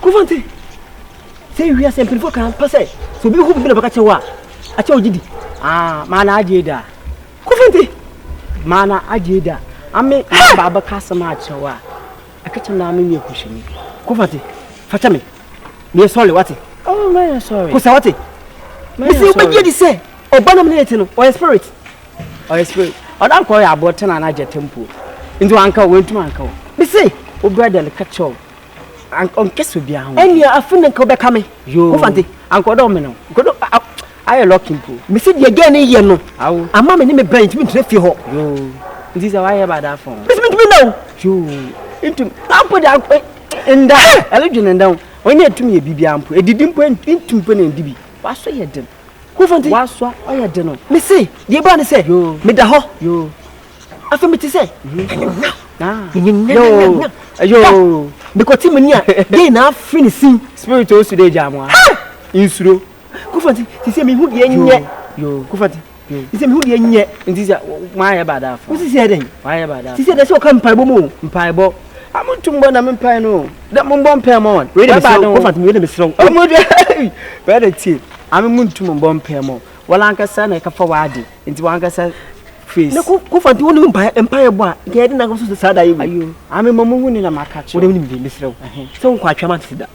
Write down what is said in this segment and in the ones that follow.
Kofante, sɛ wiase mpanyinfoɔ kan pa sɛ sɛ obi hu bibi na bɛka kyɛ wo a, akyɛ ogye di. Aa, maa na agye da. Kofante, maa na agye da. Ame maa ba abɛka asɛm akyerɛ wo a, ɛka kyɛ naa me nyɛ kuhyɛni. Kofante, fakyɛ me, meyɛ sɔre wate. Oh, meyɛ sɔre. Kosa wate. Mese wobɛgye di sɛ ɔba nam ne ne te no, ɔyɛ spirit. ɔyɛ spirit ɔda nkɔ ɔyɛ aboɔ tena na gyata mpo nti wanka o wentuma nka o mese wo brother no ka kyerɛ o ɔnkɛsɛ obiara ho ɛnea afi ne nka wobɛka me wofa nte anka ɔdɔ me no nkodo ayɛ lɔki mpo mese deɛ gɛn ne yɛ no ama me ne me brɛ ntumi ntina fie hɔ nti sɛ wayɛ bada afɔ mese mentumi nna o ntumi ampo de ankɔ nda ɛledwene nda o ɔnyɛ ɛtumi yɛ biribiara mpo ɛdidi mpo ntumi mpo na ɛndi bi wasɔ yɛ den Kofonte. W'asoa ɔyɛ de no. Me se, deɛ ɛbaa ne sɛ. Yoo. Me da hɔ. Yoo. Afei me te sɛ. Nyanyanya. Ah. Nyanyanya. Yoo. Me kɔ ti me ni a. Deɛ na afiri ne sin. Spirit o su de gya mo a. Ha! Nsuro. Kofonte, te sɛ me hu deɛ nyɛ. Yoo. Kofonte. Yoo. Te sɛ me hu deɛ nyɛ. Nti sɛ, mo ayɛ ba da afɔ. Mo sisi ɛdɛn. Mo ayɛ ba da afɔ. Sisi ɛdɛn sɛ ɔka mpaebɔ mu o. Mpaebɔ. a mo ntum bɔ na me mpae no dɛ mo mbɔ mpae mɔ wɔn wei de mesrɛ wo wɔfa wei de mesrɛ wo ɔmo de wei de tie ame mo ntum mbɔ mpae mɔ wɔn ankasa na ɛkafa wɔn ade nti wɔn ankasa face na ko kofa nti wɔn mpae mpae bɔ a nka yɛde na nka so saa da yɛ wei ayo ame mo mo hu ne na ma aka kyerɛ wɔn wɔn de mesrɛ wo sɛ wɔn kɔ atwa ma te da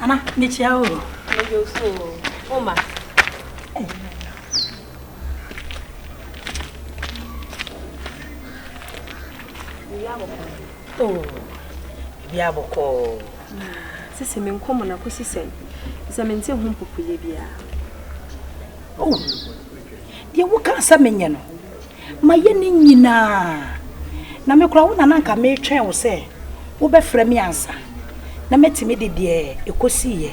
Ana, mekyia o. Mede o so o. Oma. Oh, bibi abɔkɔ. Sisi me nkɔmɔ na kosi sɛn. Sɛ me nte ho mpopoyɛ biara. Oh. Deɛ woka sɛ menyɛ no. Mayɛ ne nyinaa. Na me koraa, wo na na anka meretwɛn wo sɛ wobɛfrɛ me ansa na matumi de deɛ ɛkɔsiiɛ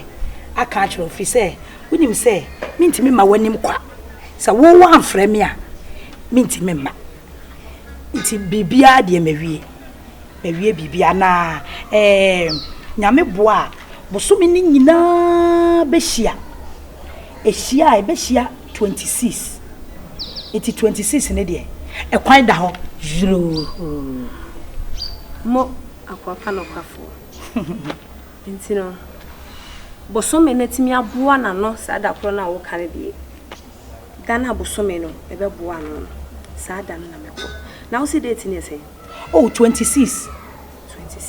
aka akyerɛ wo, ɛfiri sɛ wonim sɛ mentumi mma w'anim kwa. Sɛ wo woamfrɛ me a, mentumi mma. Nti biribiara deɛ mawie. Mawie biribiara na ɛɛ, Nyame boa a, bosome no nyinaa bɛhyia. Ɛhyia a, ɛbɛhyia Twenty six nti twenty six no deɛ ɛkwan da hɔ yuroo. Mo akoa pa nokwafoɔ nti no bosome no atumi aboa n'ano saa da korɔ no a woka no deɛ da no a bosome no ɛbɛboa ano no saa da no na mɛkɔ na wo se date no yɛ sɛn? Oh twenty six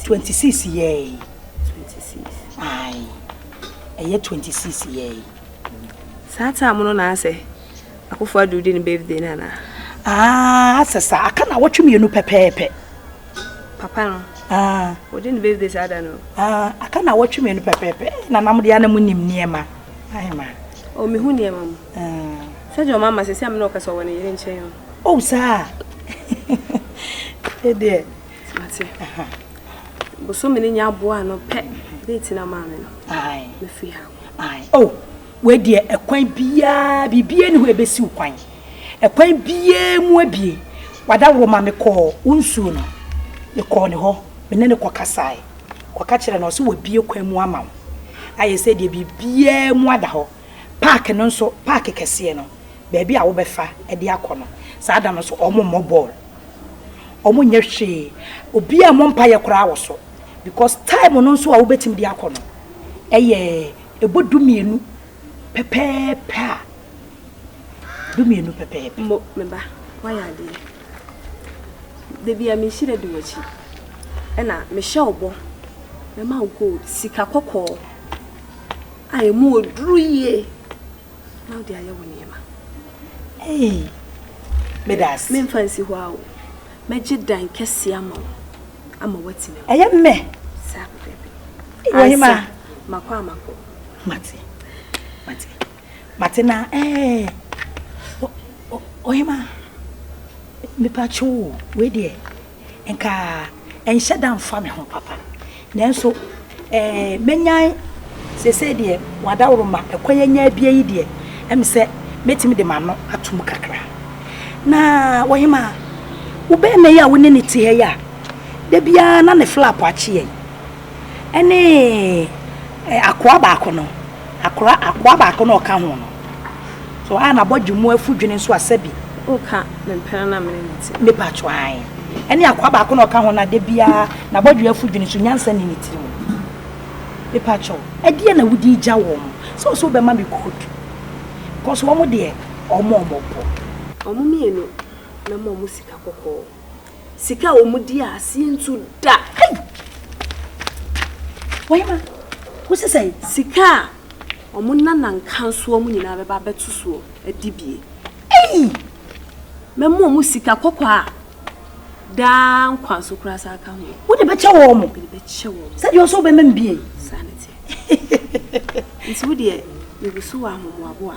twenty six yɛɛi twenty six ae ɛyɛ twenty six yɛɛi. Saa time no na asɛ Akufo Addo di ne birthday no anaa? Ah, asɛ saa. Aka na awɔtwe mmienu pɛpɛɛpɛ. Papa no. Ah. Odi ne birthday saa da no. Ah, aka na awɔtwe mmienu pɛpɛɛpɛ. Eh, na nam deɛ na mu nim nneɛma. Ahema. Oh, me hu nneɛma mu. Ah. Sɛ deɛ ɔma ma sɛ sɛ amena ɔka sɛ ɔwɔ ne yere nkyɛn o. Oh, saa. Ɛdeɛ. Mate. Aha. Bosome no nya aboa no pɛ date na maa me no. Aye. Me free ha. Aye. Oh, wei deɛ ɛkwan biara biribiara ni hɔ ɛbɛsi wo kwan. Ɛkwan biara mu abie. Wada wɔ ma me kɔɔ wo nsuo no. Me kɔɔ ne hɔ. Me ne no kɔ kasae. Kɔka kyerɛ no ɔse wabie kwan mu ama wo. Ayɛ sɛ deɛ biribiara mu ada hɔ. Park no nso, park kɛseɛ no, baabi a wobɛfa de akɔ no, saa da no nso wɔmmɔ bɔɔl. Ɔmo nyɛ hwee. Obiaa mmɔ mpaeɛ koraa wɔ so because time no nso a wobɛtumi de akɔ no ɛyɛ ɛbɔ du mmienu pɛpɛɛpɛ a du mmienu pɛpɛɛpɛ. Mo, me ba, woayɛ adeɛ. Dabi a me nhyira di w'akyi. Ɛna me hyɛ wo bɔ, mɛma wo gold, sika kɔkɔɔ a ɛmu ɔduru yie na wode ayɛ wo nneɛma. Meremfa nsi hɔ a o. Mɛgye dan kɛseɛ ama wo, ama woatena mu. Ɛyɛ mmɛ? Saa pɛpɛɛpɛ. Ansa, makɔ a makɔ. Mate, mate, mate na ɛɛ. Ohima, mepatwo o, wei deɛ, nka ɛnhyɛ da mfa me ho papa. Nanso ɛɛ mɛnyan seesei deɛ wadaworo ma ɛkwan anya abie yi deɛ, ɛm sɛ mɛtumi de m'ano ato mu kakra. Na ɔhemaa, wo barima yi a wo ne ne te ha yi a, da biara na ne flap akye yɛn, ɛne akoa baako no. Akora akoa baako na ɔka ho no. So a n'abɔdwe mu afu dwene nso a sɛbi. Woka me mpena na me ne ne te. Me pa to ae. Ɛne akoa baako na ɔka ho na da biara n'abɔdwe afu dwene so nyansa nni ne tiri mu. Me pa to, ɛdeɛ na wodi egya wɔn mo. Sɛ ɔsɛ ɔbɛma me code. Cos wɔn mo deɛ ɔmɔ ɔmɔ bɔ. Wɔn mmienu mɛma wɔn sika kɔkɔɔ. Sika a wɔn di aseɛ ntu da. Hey! Wahima, wosi sɛn? Sika a wɔn nana nkansoɔ mu nyinaa bɛba abɛto soɔ adi bie. Ei! Mɛma wɔn sika kɔkɔɔ a daa nkwa nso koraa saa ka ho. Wode bɛkyɛ wɔn? Mede bɛkyɛ wɔn. Sɛdeɛ ɔsɛ wobɛma me bie? Saa ne teɛ. Nti wodeɛ, meguso wɔ ahomoaboa.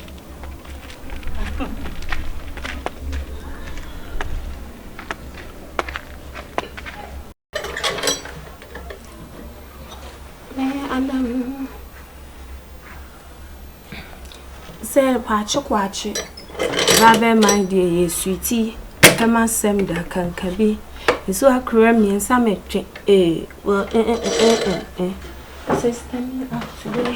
sɛ kwakye kwakye rabbit mine deɛ yɛ suiti ɛma asɛm da kanka bi nso akora mmiɛnsa mɛtwe ee wɔ ɛɛ ɛɛ ɛɛ sista mi afiri.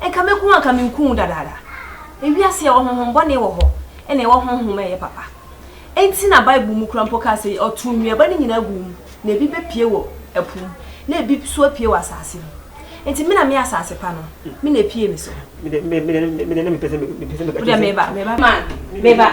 Nka mɛku wo a nka menku wo dadaada. Ewiase a ɛwɔ honhombɔne wɔ hɔ na ɛwɔ honhom a ɛyɛ papa. Enti na Bible mu kura mpo ka sɛ ɔtow nnuaba no nyinaa guu mu, na ebi bepue wɔ ɛpo mu, na ebi nso apue wɔ asase mu. Enti me na me asase pa no, me na epue me so. Me deɛ, me deɛ, me deɛ na mepɛ sɛ meka kyerɛ sɛ. Wo deɛ meba, meba, meba.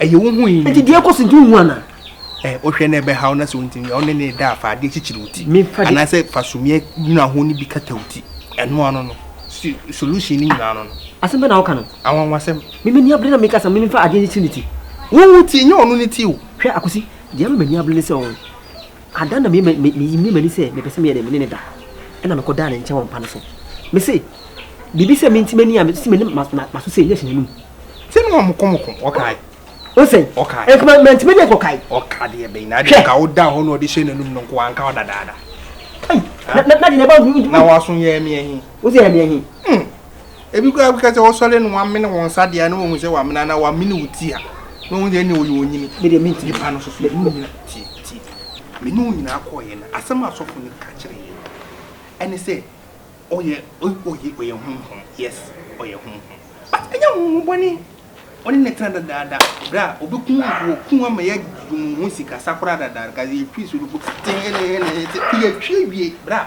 ɛyɛ wo ho yi. Nti deɛ ɛkɔ so nti wohu ana? Ɛ wohwɛ na ɛbɛhaw na sɛ wontumi wo ne ne da a fa adeɛ kyekyere wo ti anaasɛ fa sumiɛ nwura ho no bi kata wo ti ɛno ano no solution no nyinaa no no. Asɛm bɛ na woka no? Anwanwasɛm. Me m'ani abere na meka sɛ me memfa adeɛ nkyekyere ne ti. Wo wo ti nyɛ ɔno ne ti o. Hwɛ Akwasi, deɛ ama m'ani abere ne sɛ ɔn. Ada na me me me yimii m'ani sɛ mepɛ sɛ meyɛ dɛn me ne no da, ɛna mekɔ daa ne nkyɛn wɔ mpa no so. Me se, biribi sɛ menti m'ani a mesi m'anim ma ma maso sei, na ɛhyɛ n'anum. Ti no wɔn moko moko, ɔkae. O sɛn? Ɔkae. Ɛnti ma manti m'ani ankɔ kae. Ɔka deɛ bɛyi na adeɛ nka woda hɔ na ɔde hyɛ n'anum no nko anka ɔda daada. Kai, na na na deɛ na ba. Na waso yɛ ɛmi ɛhi. Wosi ɛmi ɛhi. Hmm. Ebi koraa bɛka sɛ wɔsɔre no wɔamene wɔn nsa deɛ a na wɔhu sɛ wɔamene anaa wɔamene wo ti a na wɔhu sɛ ɛnne ɔyɛ onyini. Me deɛ mentumi pa no so so mene onyina tie tie me ne onyina kɔɔyɛ no asɛm a asɔfo no ka kyerɛ yɛ no ɛne sɛ ɔyɛ ɔyɛ ɔyɛ honhom yes ɔyɛ honhom but ɛnyɛ honhom bɔne ɔne ne tena dadaada berɛ a ɔbɛku wɔku ama yɛ mu ho sikasa koraa dadaada ka yɛtwi so no po tee ne ne ne yɛtwi awie berɛ a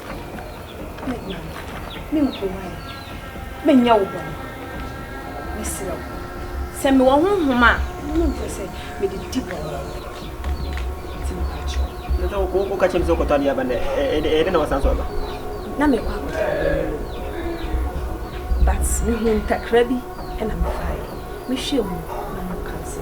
me guan me nkuran me nyɛ wo bɔne me serɛ wo sɛ me wɔ honhom a me mpɛ sɛ me de di bɔne ti me pakyɛ na sɛ wo ka kyɛ me sɛ wokɔtɔ adeɛ aba na ɛdɛ na wasan so aba na me kɔ akɔtɔ adeɛ no but me hu ntakra bi na me fae me hwɛ mu na mo kan sɛ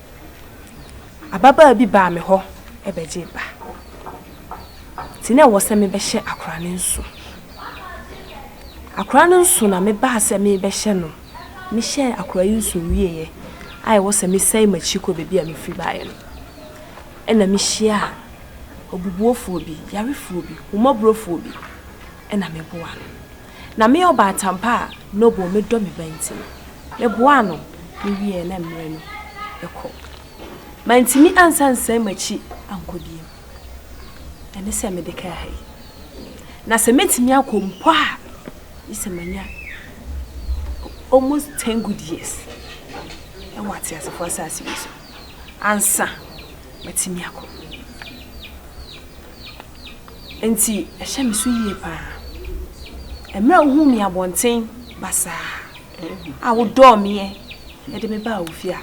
Ababaa bi baa me hɔ bɛgyee ba. Enti na ɛwɔ sɛ mebɛhyɛ akwadaa no nso. Akwadaa no nso na mebaa sɛ merebɛhyɛ no. Mehyɛɛ akwadaa yi nso wieeɛ a ɛwɔ sɛ mesane m'akyi kɔ baabi a mefiri baeɛ no, ɛnna mehyiaa obubuofoɔ bi, yarefoɔ bi, homɔborɔfoɔ bi, ɛnna meboaa no. Na me ɔbaatan pa a Noble me dɔ me ba nti no, me boaa no me wieɛ na mmerɛ no rekɔ. Mantumi ansa nsan makyi ankɔ biom. Ɛne sɛ me de kaa ha yi. Na sɛ mɛtumi akɔ mpo a, gye sɛ manya almost ten good years wɔ ateasefoɔ asaase wei so ansa matumi akɔ. Enti ɛhyɛ me so yie pa ara. Mmerɛ a wohuu me abɔnten basaa a wodɔɔ meɛ de me baa wo fie a,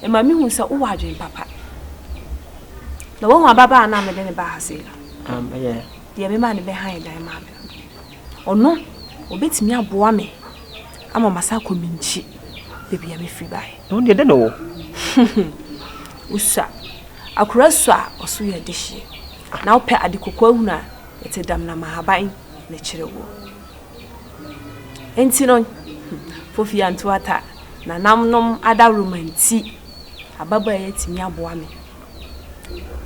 ɛma me hu sɛ wowɔ adwene papa. Na woahu ababaa no a mede no baa ha sei no? Deɛ memaa no bɛhan dan maa me no. Ɔno, ɔbɛtumi aboa me ama masan akɔ me nkyi baabi a mefiri baeɛ. Na wo deɛ, dɛn na ɔwɔ? Wosua akora su a ɔso yɛ dehyeɛ, na wopɛ ade kokoahunu a ɛte damena ma ahaban na ɛkyerɛ woɔ. Enti no, Fofi Antuata, nanamnom adaworoma nti, ababaa yi atumi aboa me,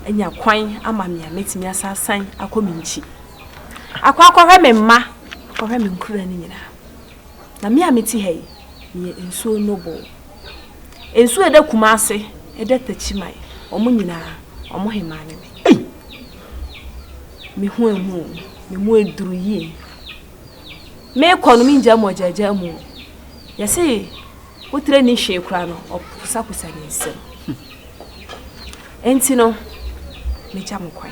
anya kwan ama me a mɛtumi asan asan akɔ me nkyi. Akɔ akɔhwɛ me mma, akɔhwɛ me nkuraa no nyinaa. Na me a mete ha yi, meyɛ nsuo nnwoboo. Nsuo a ɛda Kumase, ɛda Takyimae, wɔn nyinaa, wɔn hemaa ne me. Ei! Me ho ahu o, me mu aduru yie. Merekɔ no, mengyaa mu ɔgyaagyaa mu o. Yɛse wotire nni hwee koraa no, ɔposaposa ne nsam. Enti no, megya mo kwan.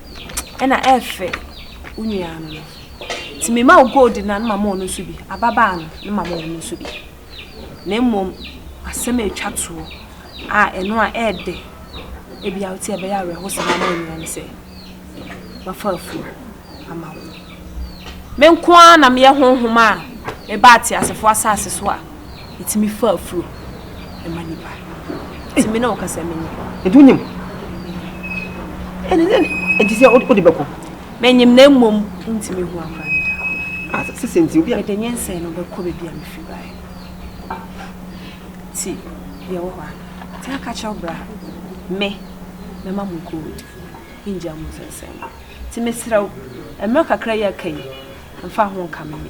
ɛna ɛfɛ wo nua no no nti mema wo gold no a na mama ɔno nso bi ababaa no na mama ɔno nso bi na mmom asɛm a ɛtwa toɔ a ɛno a ɛɛdɛ ebi a wote ɛbɛyɛ awerɛhosɛm ama wo nua no sɛ mafa afuo ama wo me nko ara na meyɛ honhom a meba ateasefoɔ asase so a Ɛtumi fa afuro ɛma nipa. Ɛtumi na ɔkasa menyim. Ɛti wonyim? Ɛne ɛne ɛti sɛ wode bɛko? Menyim na mmom ntumi hu afa ne da. Ah, sisi nti obi a. Mede nyɛ nsɛn no bɛkɔ baabi a mefiri baeɛ. Ti yɛwɔ hɔ a. Ti aka kyerɛw bra. Me mɛma mo gold. Ngya mo nsɛnsɛn no. Ti mesrɛ wo, mmerɛ kakra yi aka yi, mfa ho nka me me.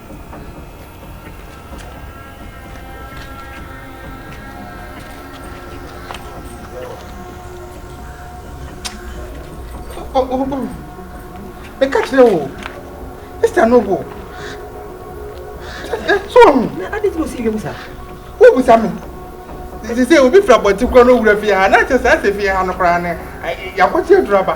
meka kyerɛ wo esta no wo so ɔhu na ade ti na ɔsi wiem saa wobusa me Te te sɛ obi firi abɔnten koraa na owura fie ha, na kyɛ sɛ ɛsɛ fie ha no koraa no yɛakɔte aduru aba.